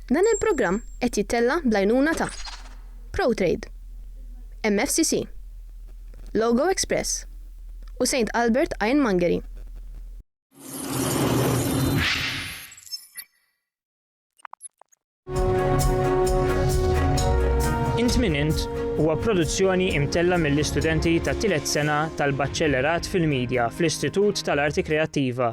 Dan il-programm qed jittella' bl-għajnuna ta', Protrade, MFCC, Logo Express u Saint Albert Ironmongery. Int Min Int huwa produzzjoni imtella' mill-istudenti tat-tielet sena tal-Baċċellerat fil-Media fl-Istitut tal-Arti Kreattiva,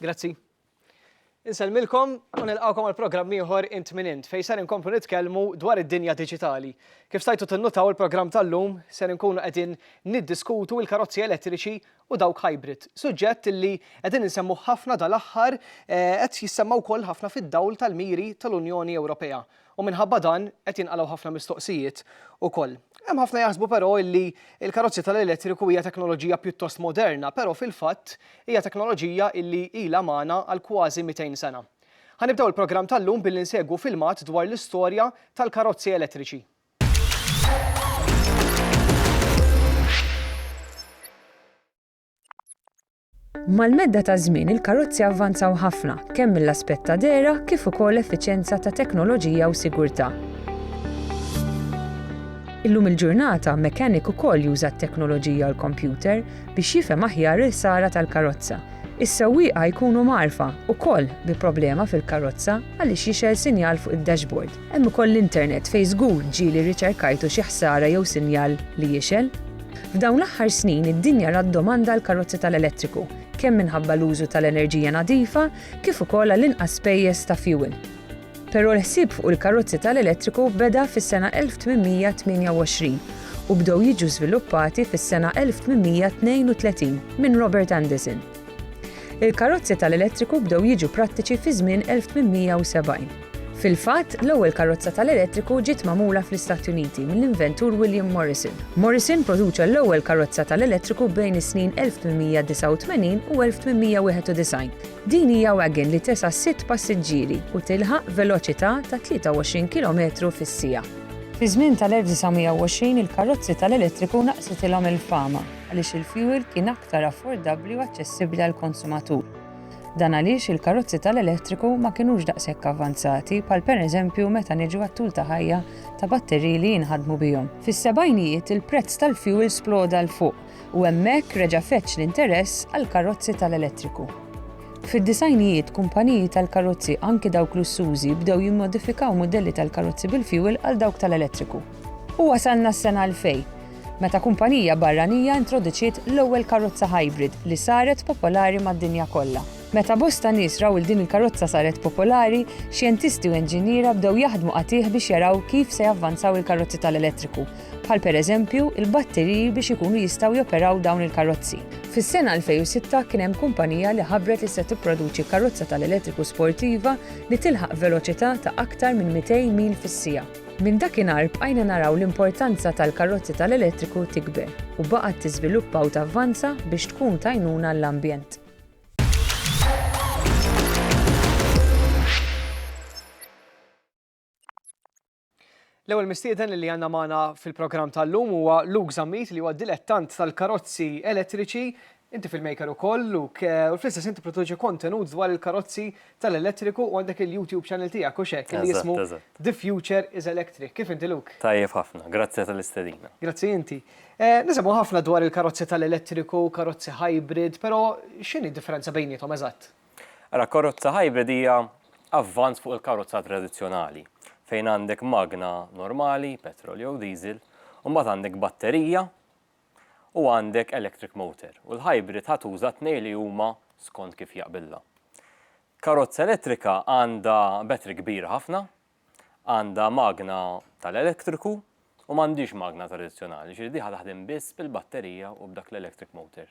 Grazzi. Insellmilkom u nilqgħukom għal programm ieħor int minn int fejn ser inkomplu nitkellmu dwar id-dinja diġitali. Kif stajtu tinnutaw il-programm tal-lum ser inkunu qegħdin niddiskutu l-karozzi elettriċi u dawk hybrid. Suġġett li qegħdin insemmu ħafna dal-aħħar eh, qed jissemma wkoll ħafna fid-dawl tal-miri tal-Unjoni Ewropea. U minħabba dan qed jinqalgħu ħafna mistoqsijiet ukoll. Hemm ħafna jaħsbu però illi l-karozzi tal-elettriku hija teknoloġija pjuttost moderna, però fil-fatt hija teknoloġija illi ilha magħna għal kważi 200 sena. Ħa nibdew il-programm tal-lum billi nsegwu filmat dwar l-istorja tal-karozzi elettriċi. Mal-medda taż-żmien il-karozzi avvanzaw ħafna, kemm mill-aspett ta' dehra kif ukoll effiċjenza ta' teknoloġija u sigurtà. Illum il-ġurnata mechanic ukoll juża t-teknoloġija u l-kompjuter biex jifhem aħjar il-ħsara tal-karozza. Is-sewwieqa jkunu mgħarrfa ukoll bi problema fil-karozza għaliex jixgħel sinjal fuq id-dashboard. Hemm ukoll l-internet fejn żgur ġieli rriċerkajtu xi ħsara jew sinjal li jixgħel. F'dawn l-aħħar snin id-dinja rat domanda għall-karozzi tal-elettriku, kemm minħabba l-użu tal-enerġija nadifa kif ukoll għal inqas spejjeż ta' fjuwil. Però l-ħsieb fuq il-karozzi tal-elettriku beda fis-sena 1828 u bdew jiġu żviluppati fis-sena 1832 minn Robert Anderson. Il-karozzi tal-elettriku bdew jiġu prattiċi fiż-żmien 1870. Fil-fatt, l-ewwel karozza tal-elettriku ġiet magħmula fl-Istati Uniti mill-inventur William Morrison. Morrison produċa l-ewwel karozza tal-elettriku bejn is-snin 1889 u 1891. Din hija wagon li tesa' sitt passiġġieri u tilħaq veloċità ta' 23 kilometru fis-siegħa. Fiż-żmien tal-1920 il-karozzi tal-elettriku naqsitilhom il-fama għaliex il-fjuwil kien aktar affordabbli u aċċessibbli għall-konsumatur. Dan għaliex il-karozzi tal-elettriku ma kinux daqshekk avvanzati bħal pereżempju meta niġu għat-tul ta' ħajja ta' batteriji li jinħadmu bihom. Fis-sebgħinijiet il-prezz tal-fjuwil sploda 'l fuq u hemmhekk reġa' feġġ l-interess għall-karozzi tal-elettriku. Fid-disgħinijiet kumpaniji tal-karozzi anki dawk lussużi bdew jimmodifikaw mudelli tal-karozzi bil-fjuwil għal dawk tal-elettriku. U wasalna s-sena 2000. meta kumpanija barranija introduċiet l-ewwel karozza hybrid li saret popolari mad-dinja kollha. Meta bosta nies raw il din il-karozza saret popolari, xjentisti u inġiniera bdew jaħdmu qatigħ biex jaraw kif se javvanzaw il-karozzi tal-elettriku, bħal pereżempju, il-batteriji biex ikunu jistgħu joperaw dawn il-karozzi. Fis-sena 2006 kien hemm kumpanija li ħabbret li se tipproduċi karozza tal-elettriku sportiva li tilħaq veloċità ta' aktar minn 200 mil fis-siegħa. Minn dakinhar bqajna naraw l-importanza tal-karrozzi tal-elettriku tikber u baqgħet tiżviluppa u tavvanza biex tkun t'għajnuna għall-ambjent. L-ewwel mistieden li għandna magħna fil-programm tal-lum huwa Luke Zammit li huwa dilettant tal-karozzi elettriċi Inti filmmaker ukoll, Luke, u fl-istess ħin tipproduċi kontenut dwar il-karozzi tal-elettriku u għandek il-YouTube channel tiegħek, hux hekk, li jismu The Future is Electric. Kif inti, Luke? Tajjeb ħafna, grazzi tal-istedina. Grazzi inti. Nisimgħu ħafna dwar il-karozzi tal-elettriku, karozzi hybrid, però x'inhi d-differenza bejniethom eżatt? Ara, karozza hybrid hija avvanz fuq il-karozza tradizzjonali, fejn għandek magna normali, petrol jew diesel, u mbagħad għandek batterija, u għandek electric motor u l-hybrid ħa tuża t-tnejn li huma skont kif jaqbillha. Karozza elettrika għandha battery kbira ħafna, għandha magna tal-elettriku u m'għandhiex magna tradizzjonali, jiġifieri di ħa taħdem biss bil-batterija u b'dak l-electric motor.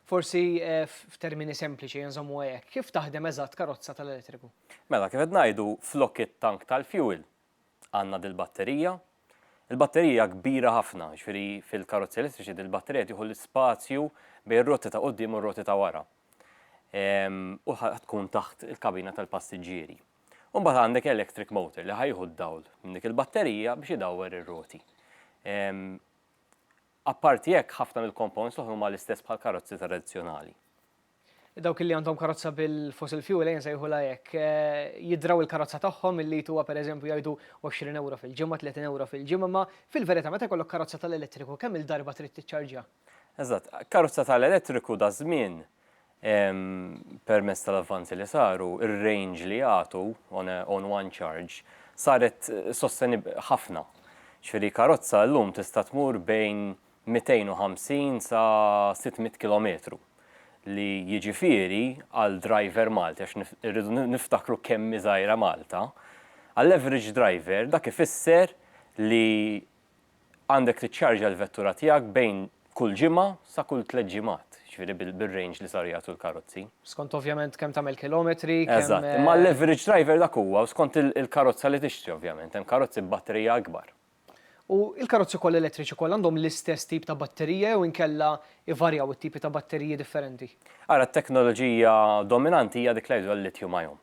Forsi f'termini sempliċi inżommuha hekk, kif taħdem eżatt karozza tal-elettriku? Mela, kif qed ngħidu flok it-tank tal-fuel għandna dil-batterija. Il-batterija hija kbira ħafna, jiġifieri fil-karozzi elettriċi dil-batterija tieħu l-ispazju bejn ir-roti ta' quddiem u r-roti ta' wara. Ehm, u tkun taħt il-kabina tal-passiġġieri. Umbagħad għandek electric motor li ħajħu d-dawl minn dik il-batterija biex idawwer ir-roti. Ehm, apparti hekk ħafna mill-components l-oħra huma l-istess bħal karozzi tradizzjonali. Dawk li għandhom karozza bil-fossil fuel, ejja nsejħulha hekk, jidraw il-karozza tagħhom il-lit huwa pereżempju jgħidu 20 ewro fil-ġimgħa, 30 ewro fil-ġimgħa, imma fil-verità meta jkollok karozza tal-elettriku kemm-il darba trid tiċċarġja? Eżatt. Karozza tal-elettriku daż-żmien, permezz tal-avvanzi li saru, ir-range li jagħtu on a on one charge saret sostenibbli ħafna. Jiġifieri karozza llum tista' tmur bejn 250 sa 600 kilometru, li jiġifieri għal driver Malti, għax irridu niftakru kemm hi żgħira Malta, għall-average driver dak ifisser li għandek tiċċarġja l-vettura tiegħek bejn kull ġimgħa sa kull tliet ġimgħat, jiġifieri bil-range li saru jagħtu l-karozzi. Skont ovvjament kemm tagħmel kilometri, kemm. Eżatt, imma għall-average driver dak huwa u skont il-karozza li tixtri ovvjament, hemm karozzi b'batterija ikbar. U l-karozzi kollha elettriċi kollha għandhom l-istess tip ta' batterija jew inkella jvarjaw it-tipi ta' batteriji differenti? Ara, t-teknoloġija dominanti hija dik li jgħiduha l-lithium ion.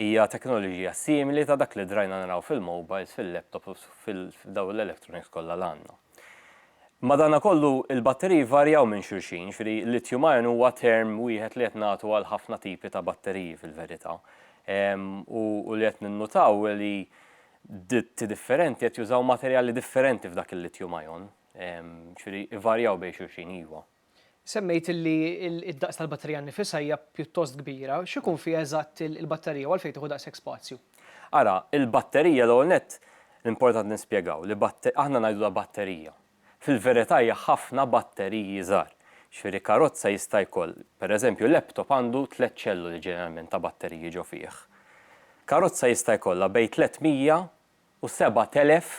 Hija teknoloġija simili ta' dak li drajna naraw fil-mobiles, fil-laptops u f'dawn l-electronics kollha li għandna. Madankollu, il-batteriji jvarjaw minn xulxin, jiġifieri lithium ion huwa term wieħed li qed nagħtu għal ħafna tipi ta' batteriji fil-verità. U li qed ninnutaw hi li Ditti differenti qed jużaw materjali differenti f'dak il-lithium ion, ġifieri ivarjaw bejn xulxin, iva. Semmejt li d-daqs tal-batterija nnifisha hija pjuttost kbira. X'ikun fiha eżatt il-batterija u għalfejn tieħu daqshekk spazju? Ara, il-batterija l-ewwel nett l-importanti nispjegaw li aħna ngħidulha batterija, Fil-verità hija ħafna batteriji żgħar. Jiġifieri karozza jista' jkoll, pereżempju laptop għandu tliet ċelloli ġeneralment ta' batteriji ġo fih. Karozza jista' jkollha bejn 300 u 7,000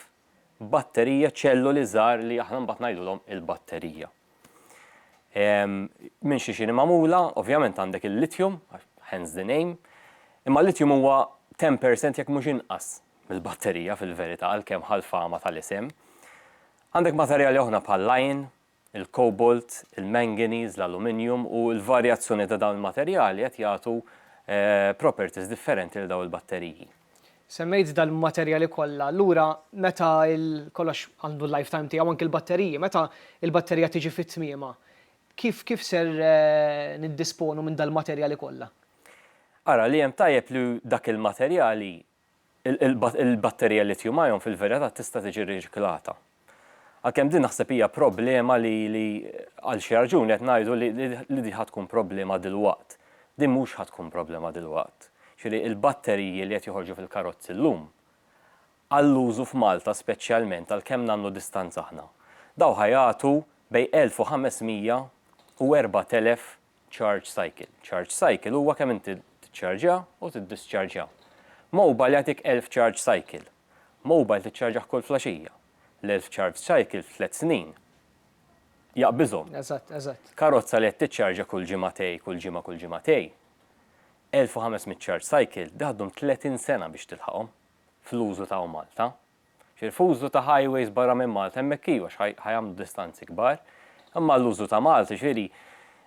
batterija, ċelloli żgħar li aħna mbagħad ngħidulhom il-batterija. Minn xiex hi magħmula? Ovvjament għandek il-lithium, hence the name, imma l-lithium huwa 10% jekk mhux inqas mill-batterija fil-verità għalkemm ħa l-fama tal-isem. Għandek materjali oħra bħall-iron, il-cobalt, il-manganese, l-aluminjum u l-varjazzjoni ta' dawn il-materjali qed jagħtu properties differenti lil dawn il-batteriji. Semmejt dal-materjali kollha, allura meta kollox għandu l-lifetime tiegħu anke l-batteriji, meta l-batterija tiġi fi tmiemha, kif kif ser niddisponu minn dal-materjali kollha? Ara li hemm tajjeb li dak il-materjali il-batterija lithium-ion fil-verità tista' tiġi riċiklata. Għalkemm din naħseb hija problema li għal xi raġuni qed ngħidu li din ħa tkun problema dilwaqt. Din mhux ħa tkun problema dilwaqt. Jiġifieri il-batteriji li qed joħorġu fil-karozzi llum għall-użu f'Malta speċjalment għal kemm nagħmlu distanza aħna, dawn ħa jagħtu bejn 1,500 u 4,000 charge cycle. Charge cycle huwa kemm inti tiċċarġja u tiddischarġja. Mobile jagħtik 1000 charge cycle. Mobile tiċċarġah kull flaxija. L-1000 charge cycle f'tliet snin jaqbiżhom. Eżatt, eżatt. Karozza li qed tiċċarġja kull ġimagħtej, kull ġimgħa, kull ġimagħtej, 1500 charge cycle, dik ddum 30 sena biex tilħaqhom fl-użu ta' hawn Malta. Fil-fużlu ta' highways barra minn Malta hemmhekk iva għax ħa jagħmlu distanzi kbar. Imma għall-użu ta' Malta, jiġifieri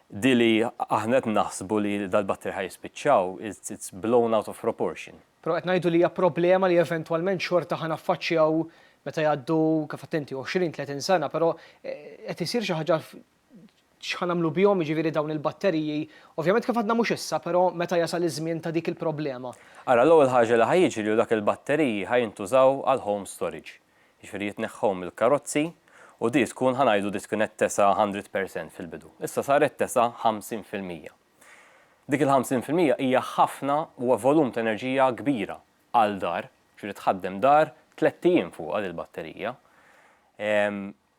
din li aħna qed naħsbu li dal-batterji ħa jispiċċaw it's blown out of proportion. Però qed ngħidu li hija problema li eventwalment xorta ħa naffaċċjaw meta jgħaddu, kif għedt inti, għoxrin, tletin sena, però qed isir xi ħaġa x'ħa nagħmlu bihom, jiġifieri dawn il-batteriji, ovvjament kif għadna mhux issa, però meta jasal iż-żmien ta' dik il-problema. Ara, l-ewwel ħaġa li ħa jiġri hu dak il-batteriji ħa jintużaw għal home storage, jiġifieri jitneħħew mill-karozzi u di tkun ħa ngħidu di kienet tesa' hundred percent fil-bidu. Issa saret tesa' ħamsin fil-mija. Dik il-ħamsin fil-mija hija ħafna, huwa volum ta' enerġija kbira għal dar, jiġifieri tħaddem dar tlett ijiem fuqha dil-batterija.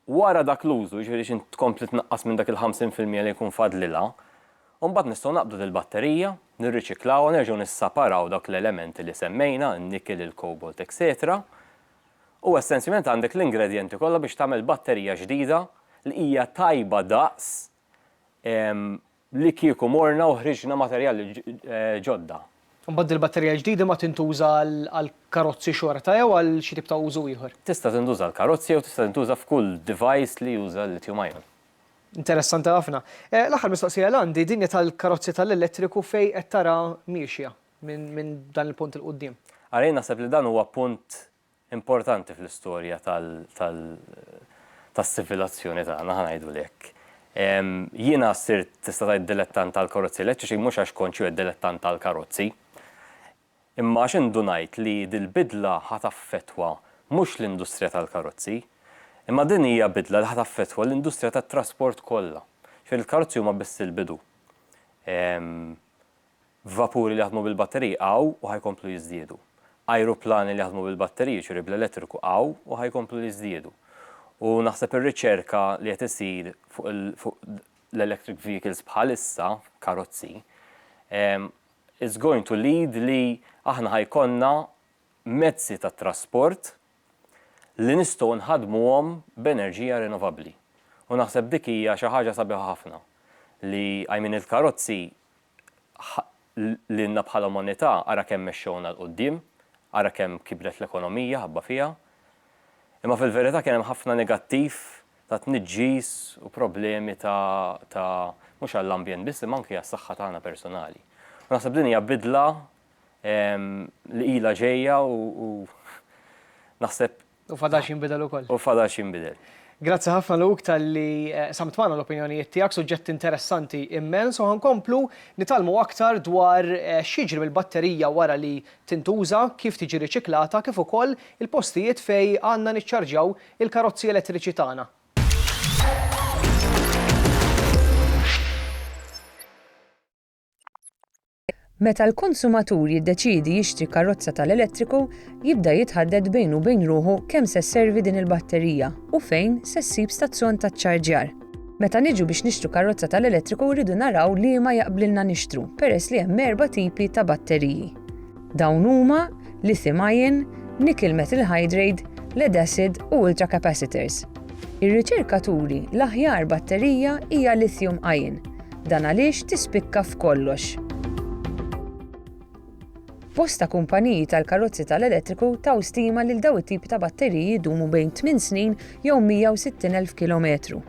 Wara dak l-użu, jiġifieri xi tkompli tnaqqas minn dak il-ħamsin fil-mija li jkun fadlilha, u mbagħad nistgħu naqbdu dil-batterija, nirriċiklawha, nerġgħu nissaparaw dawk l-elementi li semmejna, in-nikel, il-cobalt, etcetera, u essenzjament għandek l-ingredjenti kollha biex tagħmel batterija ġdida li hija tajba daqs Li kieku morna u ħriġna materjali ġodda. Imbagħad dil-batterija l-ġdida ma tintuża għall-karozzi xorta jew għal xi tip ta' użu ieħor? Tista' tintuża għall-karozzi jew tista' tintuża f'kull device li juża l-lithium ion. Interessanti ħafna. L-aħħar mistoqsija li għandi, din hi tal-karozzi tal-elettriku fejn qed tara miexja minn dan il-punt 'il quddiem. Ara jien naħseb li dan huwa punt importanti fl-istorja tas-sivilazzjoni tagħna, ħa ngħidu hekk. Jiena sirt tista' tgħid dilettant tal-karozzi elettriċi mhux għax kont xi wieħed dilettant tal-karozzi, imma għax indunajt li dil-bidla ħa taffettwa mhux l-industrija tal-karozzi, imma din hija bidla li ħa taffettwa l-industrija tat-trasport kollha. Ġifieri l-karozzi huma biss il-bidu. Vapuri li jaħdmu bil-batteriji hawn u ħa jkomplu jiżdiedu. Ajruplani li jaħdmu bil-batteriji, jiġifieri bl-elettriku, hawn u ħa jkomplu jiżdiedu. U naħseb ir-riċerka li qed isir fuq fuq l-electric vehicles bħalissa, karozzi, it's going to lead li aħna ħa jkollna mezzi ta' trasport li nistgħu nħaddmuhom b'enerġija rinnovabbli. U naħseb dik hija xi ħaġa sabiħa ħafna li, I mean il-karozzi lilna bħala umanità, ara kemm mexxewna 'l quddiem, ara kemm kibret l-ekonomija ħabba fiha. Imma fil-verità kien hemm ħafna negattiv ta' tniġġis u problemi ta' ta' mhux għall-ambjent biss imma anki għas-saħħa tagħna personali. U naħseb din hija bidla li ilha ġejja u naħseb U fadalx jinbidel ukoll. U fadalx jinbidel. Grazzi ħafna Luke talli qsamt magħna l-opinjonijiet tiegħek, suġġett interessanti immens u ħa nkomplu nitgħallmu aktar dwar x'jiġri mill-batterija wara li tintuża, kif tiġi riċiklata kif ukoll il-postijiet fejn għandna niċċarġjaw il-karozzi elettriċi tagħna. Meta l-konsumatur jiddeċiedi jixtri karozza tal-elettriku, jibda jitħaddet bejnu u bejn ruħu kemm se sservi din il-batterija u fejn se ssib stazzjon ta' ċċarġjar. Meta niġu biex nixtru karozza tal-elettriku rridu naraw liema jaqblilna nixtru peress li hemm erba' tipi ta' batteriji. Dawn huma, lithium-ion, nickel-metal hydrade, lead-acid u ultra-capacitors. Ir-riċerka turi l-aħjar batterija hija lithium-ion. Dan għaliex tispikka f'kollox. Bosta kumpaniji tal-karozzi tal-elettriku taw stima lil daw it-tipi ta' batteriji jdumu bejn 8 snin jew 160,000 kilometru.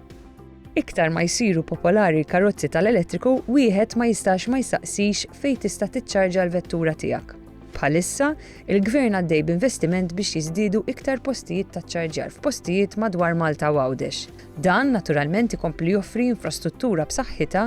Iktar ma jsiru popolari l-karozzi tal-elettriku, wieħed ma jistax ma jistaqsix fejn tista' tiċċarġa l-vettura tiegħek. Bħalissa, il-Gvern għaddej b'investiment biex jiżdiedu iktar postijiet ta' ċċarġjar f'postijiet madwar Malta u Għawdex. Dan naturalment ikompli joffri infrastruttura b'saħħitha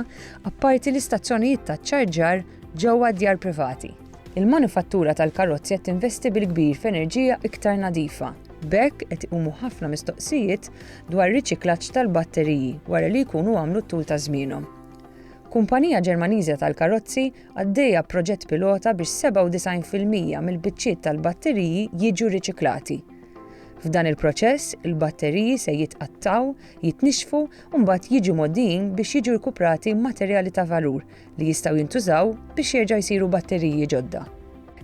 apparti l-istazzjonijiet ta' ċċarġjar ġewwa d-djar privati. Il-manifattura tal-karozzi qed tinvesti bil-kbir f'enerġija iktar nadifa. B'hekk qed iqumu ħafna mistoqsijiet dwar riċiklaġġ tal-batteriji wara li jkunu għamlu t-tul ta' żmienhom. Kumpanija Ġermaniża tal-karozzi għaddejja b'proġett pilota biex 97 fil-mija mill-biċċiet tal-batteriji jiġu riċiklati. F'dan il-proċess, il-batteriji se jitqattgħu, jitnixxfu u mbagħad jiġu mgħoddijin biex jiġu rkuprati materjali ta' valur li jistgħu jintużaw biex jerġa' jsiru batteriji ġodda.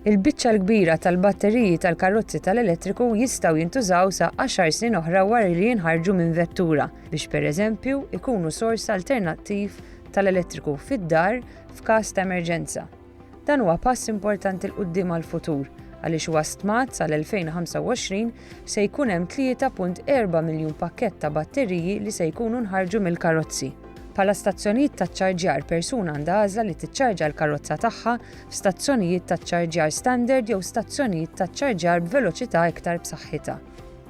Il-biċċa l-kbira tal-batteriji tal-karozzi tal-elettriku jistgħu jintużaw sa għaxar snin oħra wara li jinħarġu minn vettura biex pereżempju jkunu sors alternattiv tal-elettriku fid-dar f'każ ta' emerġenza. Dan huwa pass importanti 'l quddiem għall-futur għaliex huwa stmat sal-2025 se jkun hemm 3.4 miljun pakkett ta' batteriji li se jkunu nħarġu mill-karozzi. Bħala stazzjonijiet ta' ċċarġjar persuna għandha għażla li tiċċarġja l-karozza tagħha f'stazzjonijiet ta' ċċarġjar standard jew stazzjonijiet ta' ċċarġjar b'veloċità iktar b'saħħitha.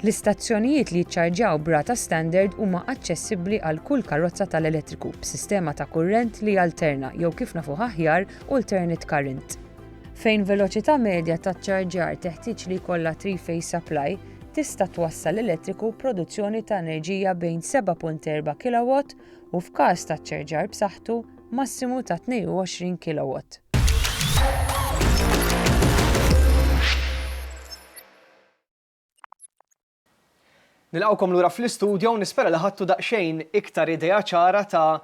L-istazzjonijiet li jiċċarġjaw b'rata standard huma aċċessibbli għal kull karozza tal-elettriku b'sistema ta' kurrent li jalterna jew kif nafuh aħjar alternate current. Fejn veloċità medja ta' ċċarġjar teħtieġ li jkollha three-phase supply, tista' twassal elettriku b'produzzjoni ta' enerġija bejn 7.4 kilowatt u, f'każ ta' ċċarġjar b'saħħtu, massimu ta' 22 kilowatt. Nilqgħukom lura fl-istudio u nispera li ħadtu daqsxejn iktar idea ċara ta'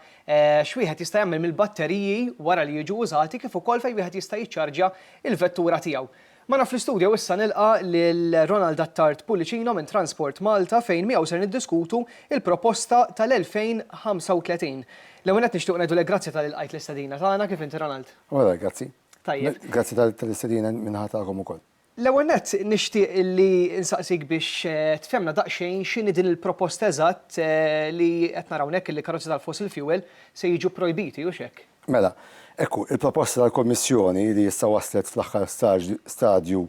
x'wieħed jista' jagħmel mill-batteriji wara li jiġu użati kif ukoll fejn wieħed jista' jiċċarġja l-vettura tiegħu. Magħna fl-istudio issa nilqa' lil Ronald Attard Pullicino minn Transport Malta fejn miegħu ser niddiskutu l-proposta tal-2035. L-ewwel nett nixtiequ ngħidulek grazzi talli lqajt l-istedina tagħna, kif inti Ronald? Grazzi. Tajjeb. Grazzi tal-istedina min-naħa tagħkom ukoll. L-ewwel nett, nixtieq li nsaqsik biex tfehmna daqsxejn x'inhi din il-proposta eżatt li qed nara hawnhekk illi karozzi tal-fossil fuel se jiġu pprojbiti, hux hekk? Mela, hekk hu. Il-proposta tal-Kummissjoni, li issa waslet fl-aħħar stadju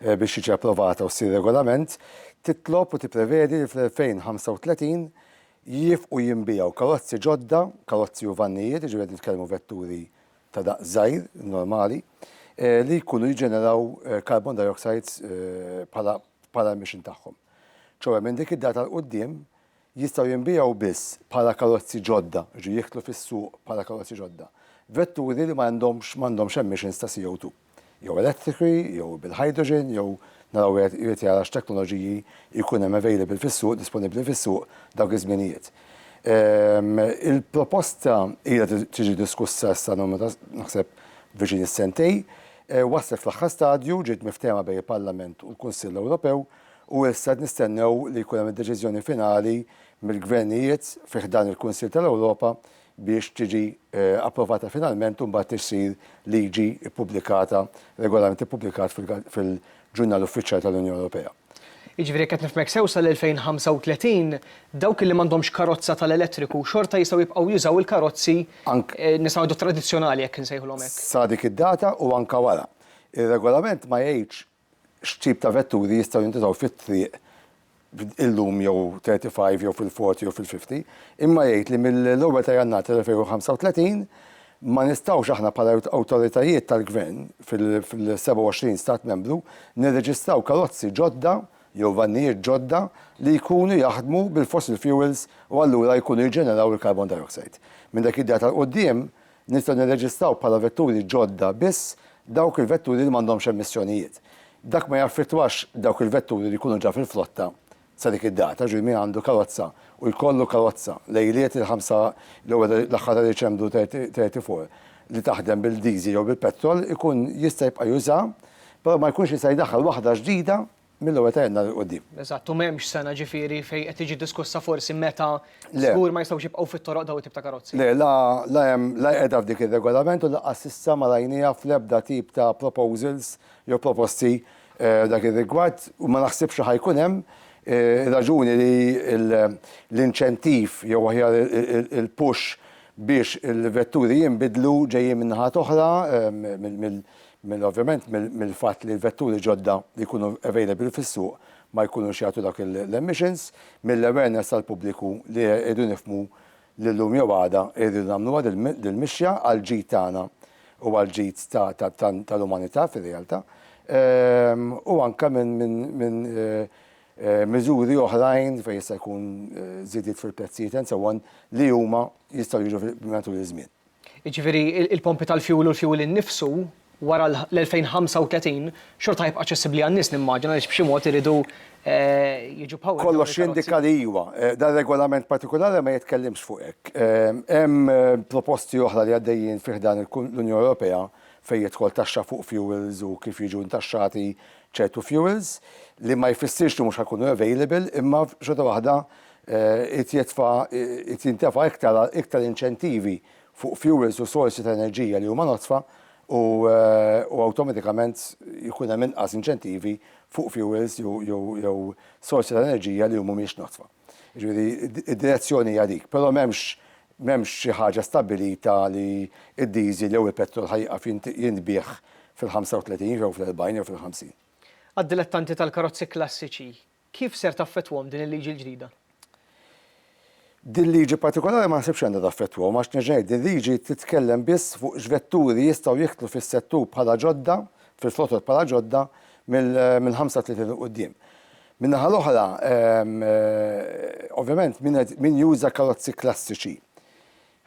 biex tiġi approvata u ssir regolament, titlob u tipprevedi li fl-2035 jiefqu jinbiegħu karozzi ġodda, karozzi u vannijiet, jiġifieri qed nitkellmu vetturi ta' daqs żgħir, normali, li jkunu jiġġeneraw carbon dioxides bħala bħala l-mission tagħhom. Ċoe minn dik id-data 'l quddiem jistgħu jinbiegħu biss bħala karozzi ġodda, jiġifieri jidħlu fis-suq bħala karozzi ġodda, vetturi li ma għandhomx ma għandhomx emissions ta' CO2. jew elettriċi jew bil-hydrogen jew naraw wieħed irid jara x'teknoloġiji jkun hemm available fis-suq, disponibbli fis-suq dawk iż-żminijiet. Il-proposta ilha tiġi diskussa issa numru ta' naħseb viċin is-sentejn, waslet fl-aħħar stadju, ġiet miftehma bejn il-Parlament u l-Kunsill Ewropew u issa qed nistennew li jkun hemm id-deċiżjoni finali mill-gvernijiet fi ħdan il-Kunsill tal-Ewropa biex tiġi approvata finalment u mbagħad issir liġi ppubblikata, regolament ippubblikat fil-Ġurnal Uffiċjali tal-Unjoni Ewropea. Jiġifieri jekk qed nifhmek sew sal-2035 dawk li m'għandhomx karozza tal-elettriku xorta jistgħu jibqgħu jużaw il-karozzi nistgħu ngħidu tradizzjonali jekk insejħulhom hekk? Sa dik id-data u anke wara. Ir-regolament ma jgħidx x'tip ta' vetturi jistgħu jintużaw fit-triq illum jew 35 jew fil-40 jew fil-50, imma jgħid li mill-ewwel ta' Jannar tal-2035 ma nistgħux aħna bħala awtoritajiet tal-Gvern fil-27 Stat Membru nirreġistraw karozzi ġodda jew vannijiet ġodda li jkunu jaħdmu bil-fossil fuels u allura jkunu jiġġeneraw il-carbon dioxide. Minn dak id-data 'l quddiem, Nistgħu nirreġistraw bħala vetturi ġodda biss dawk il-vetturi li m'għandhomx emissjonijiet. Dak ma jaffettwax dawk il-vetturi li jkunu ġa fil-flotta sa dik id-data, jiġifieri min għandu karozza u jkollu karozza lejliet il-ħamsa jew l-aħħar ta' Diċembru 34 li taħdem bil-diesel jew bil-petrol ikun jista' jibqa' juża, però ma jkunx jista' jdaħħal waħda ġdida Mill-ewwel ta' Jannar 'il quddiem. Eżatt, u m'hemmx sena ġifieri fejn qed tiġi diskussa forsi meta żgur ma jistgħux jibqgħu fit-toroq dawn it-tip ta' karozzi. Le, la la hemm la qiegħda f'dik ir-Regolament u lanqas s'issa ma rajniha fl-ebda tip ta' proposals jew proposti f'dak ir-rigward u ma naħsibx li ħa jkun hemm raġuni li l-inċentiv jew aħjar il-push biex il-vetturi jinbidlu ġejjin min-naħa t'oħra minn ovvjament mill-fatt li l-vetturi ġodda li jkunu available fis-suq ma jkunux jagħtu dawk l-emissions, mill-awareness tal-pubbliku li rridu nifhmu li llum jew għada rridu nagħmluha dil-mixja għall-ġid tagħna u għall-ġid tal-umanità fir-realtà, u anke minn miżuri oħrajn fejn jista' jkun żidiet fil-prezzijiet and so on li huma jistgħu jiġu matul iż-żmien. Jiġifieri il-pompi tal-fjuwil u l-fjuwil innifsu wara l-2035 xorta ħajbqa' aċċessibbli għan-nies nimmaġina għaliex b'xi mod iridu jiġu powered dawn il-karozzi. Kollox jindika li iwa. Dan ir-regolament partikulari ma jitkellimx fuq hekk. Hemm proposti oħra li għaddejjin fi ħdan l-Unjoni Ewropea fejn jidħol taxxa fuq fjuwils u kif jiġu ntaxxati ċertu fjuwils li ma jfissirx li mhux ħa jkunu available imma xorta waħda Irid jitfa' irid jintefa' iktar iktar inċentivi fuq fjuwils u sorsi ta' enerġija li huma nodfa u u awtomatikament jkun hemm inqas inċentivi fuq fjuwils jew jew jew sorsi ta' enerġija li mhumiex nodfa. Jiġifieri id-direzzjoni hija dik. Però m'hemmx m'hemmx xi ħaġa stabbilita li d-diesel jew il-petrol ħa jieqaf jintbiegħ fil-35 jew fl-40 jew fil-50. Għad-dilettanti tal-karozzi klassiċi, Kif ser taffettwahom din il-liġi l-ġdida? Din liġi partikolari ma naħsibx li għandha taffettwahom għax nerġa' ngħid din liġi titkellem biss fuq x'vetturi jistgħu jidħlu fis-settur bħala ġodda, fil-flotot bħala ġodda, mill-35 'il quddiem. Min-naħa l-oħra, ovvjament min juża karozzi klassiċi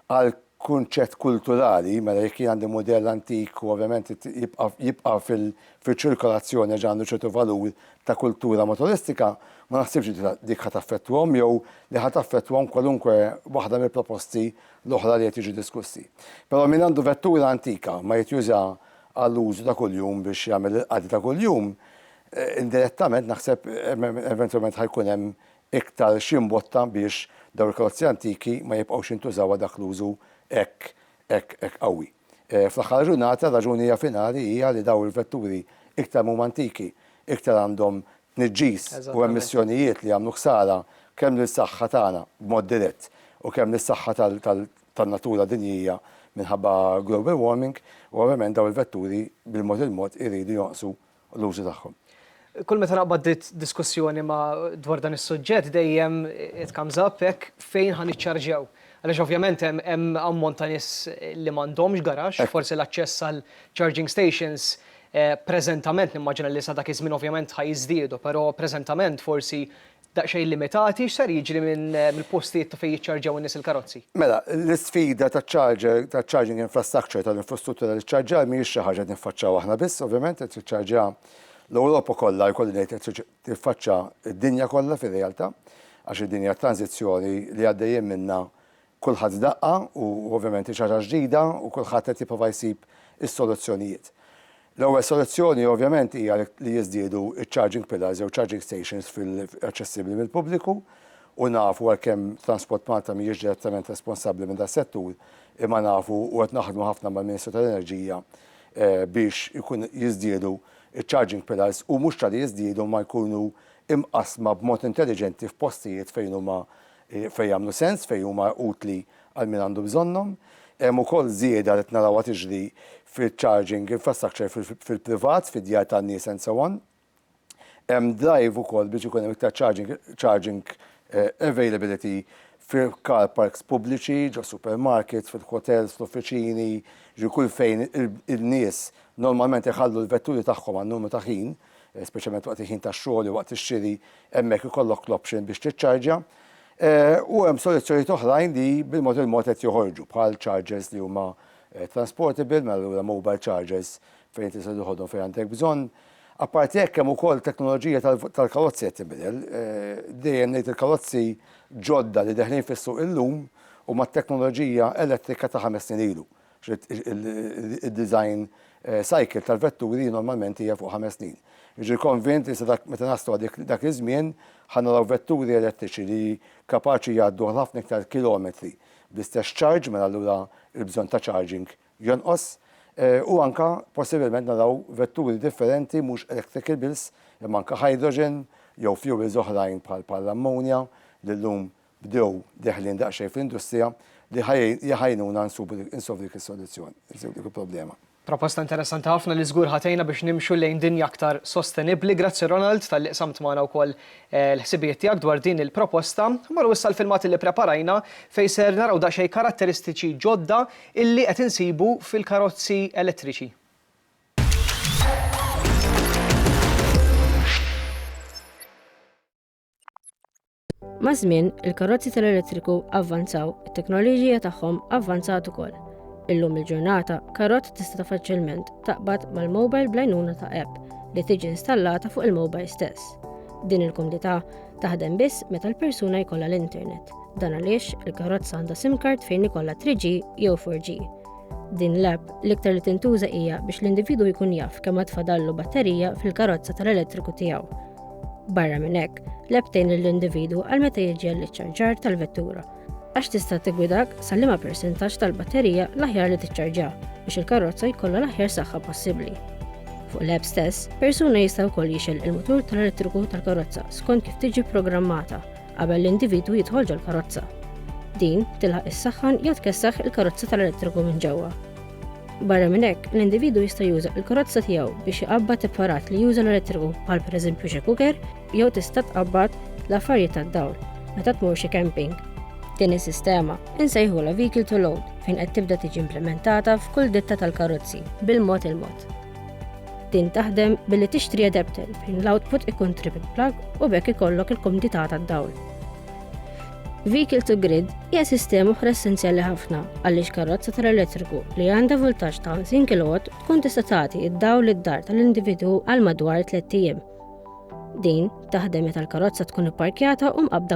Għal kunċett kulturali, mela jekk jien għandi mudell antik u ovvjament jibqa' jibqa' fiċ-ċirkolazzjoni għax għandu ċertu valur ta' kultura motoristika, ma naħsibx li dik ħa taffettwahom jew li ħa taffettwahom kwalunkwe waħda mill-proposti l-oħra li qed jiġu diskussi. Però min għandu vettura antika ma jrid juża għall-użu ta' kuljum biex jagħmel il-qadi ta' kuljum, indirettament naħseb eventwalment ħa jkun hemm iktar xi mbotta biex dawn il-karozzi antiki ma jibqgħux jintużaw għal dak l-użu hekk hekk hekk qawwi. Fl-aħħar tal-ġurnata r-raġuni hija finali hija li dawn il-vetturi iktar ma huma antiki, iktar għandhom tniġġis u emissjonijiet li jagħmlu ħsara kemm lill-saħħa tagħna b'mod dirett u kemm lis-saħħa tan-natura dinjija minħabba global warming u ovvjament dawn il-vetturi bil-mod il-mod iridu jonqsu u l-użu tagħhom. Kull meta naqbad diskussjoni ma' dwar dan is-suġġett dejjem it comes up hekk fejn ħa niċċarġjaw. Għaliex ovvjament hemm ammont ta' nies li m'għandhomx garaxx, forsi l-aċċess għal charging stations preżentament nimmaġina li sa dak iż-żmien ovvjament ħa jiżdiedu, però preżentament forsi daqsxejn limitati, x'ser jiġri mill-postijiet ta' fejn jiċċarġjaw in-nies il-karozzi? Mela, l-isfida taċ-charger, taċ-charging infrastructure, tal-infrastruttura taċ-ċarġjar mhijiex xi ħaġa qed niffaċċaw aħna biss, ovvjament, qed tiċċarġja l-Ewropa kollha, jkolli ngħid qed tiġi tiffaċċa d-dinja kollha fir-realtà, għax id-dinja tranżizzjoni li għaddejjin minnha Kulħadd daqqa u ovvjament hi xi ħaġa ġdida u kulħadd qed jipprova jsib is-soluzzjonijiet. L-ewwel soluzzjoni ovvjament hija li jiżdiedu ċ-charging pillars jew charging stations fil aċċessibbli mill-pubbliku u nafu għalkemm Transport Malta mhijiex direttament responsabbli minn das-settur imma nafu u qed naħdmu ħafna mal-Ministru tal-Enerġija biex ikun jiżdiedu ċ-charging pillars u mhux ta' li jiżdiedu imma jkunu imqassma b'mod intelliġenti f'postijiet fejn huma fejn jagħmlu sens, fejn huma utli għal min għandu bżonnhom. Hemm ukoll żieda li qed narawha tiġri fiċ-charging infrastructure fil-privat, fid-djar tan-nies and so on. Hemm drive ukoll biex ikun hemm iktar charging availability fi car parks pubbliċi, ġo supermarkets, fil-hotels, fl-uffiċini, ġifieri kull fejn in-nies normalment iħallu l-vetturi tagħhom għal numru ta' ħin, speċjalment waqt il-ħin tax-xogħol jew waqt ix-xiri Hemmhekk ikollok l-option biex tiċċarġja. U hemm soluzzjonijiet oħrajn li bil-mod il-mod qed joħorġu bħal chargers li huma transportable, mela allura mobile chargers fejn inti tista' toħodhom fejn għandek bżonn. Apparti hekk hemm ukoll teknoloġija tal-karozzi qed tinbidel. Dejjem ngħid il-karozzi ġodda li deħlin fis-suq illum huma t-teknoloġija elettrika ta' ħames snin ilu. Id-design cycle tal-vetturi normalment hija fuq ħames snin. Jiġri konvint li sa meta naslu għal dak iż-żmien ħa naraw vetturi elettriċi li kapaċi jgħaddu għal ħafna iktar kilometri bl-istess ċarġ mela allura l-bżonn ta' charging jonqos u anke possibilment naraw vetturi differenti mhux electricables imma anke hydrogen jew fuels oħrajn bħal l-ammonja li llum bdew deħlin daqsxejn fl-industrija li ħa jgħinuna nsubu insolvu dik is-soluzzjoni, insolvu dik il-problema. Proposta interessanti ħafna li żgur ħa tgħinna biex nimxu lejn dinja aktar sostenibbli. Grazzi Ronald talli qsamt magħna wkoll l-ħsibijiet tiegħek dwar din il-proposta. Mmorru issa l-filmat illi preparajna fejn ser naraw daqsxejn karatteristiċi ġodda illi qed insibu fil-karozzi elettriċi. Maż-żmien, il-karozzi tal-elettriku avvanzaw, it-teknoloġija tagħhom avvanzat ukoll. Illum il-ġurnata, karozza tista' faċilment taqbad mal-mobile bl-għajnuna ta' app li tiġi installata fuq il-mobile stess. Din il-komdità taħdem biss meta l-persuna jkollha l-internet. Dan għaliex il-karozza għandha SIM card fejn ikollha 3G jew 4G. Din l-app l-iktar li tintuża hija biex l-individu jkun jaf kemm għad fadallu batterija fil-karozza tal-elettriku tiegħu. Barra minn hekk, l-app tgħin lill-individwu għal meta jiġi għall-iċċarġar tal-vettura għax tista' tigwidak sa liema persentaġġ tal-batterija l-aħjar li tiċċarġja biex il-karozza jkollha l-aħjar saħħa possibbli. Fuq l-app stess, persuna jista' wkoll jixel il-mutur tal-elettriku tal-karozza skont kif tiġi programmata qabel l-individwu jidħol ġol-karozza. Din tilħaq is-saħħan jew tkessaħ il-karozza tal-elettriku minn ġewwa. Barra minn hekk, l-individwu jista' juża l-karozza tiegħu biex iqabbad apparat li juża l-elettriku bħal pereżempju xi kuker jew tista' tqabbad l-affarijiet tad-dawl meta tmur xi camping. Din is-sistema insejħulha vehicle to load fejn qed tibda tiġi implimentata f'kull ditta tal-karozzi bil-mod il-mod. Din taħdem billi tixtri adapter fejn l-output ikun triple plug u b'hekk ikollok il-kumdità tad-dawl. Vehicle to Grid hija sistema oħra essenzjali ħafna għaliex karrozza tal-elettriku li għandha voltaġġ ta' 50 kilowatt tkun tista' tagħti id-dawl id-dar tal-individwu għal madwar 3 ijiem. Din taħdem meta l-karozza tkun ipparkjata u mqabbda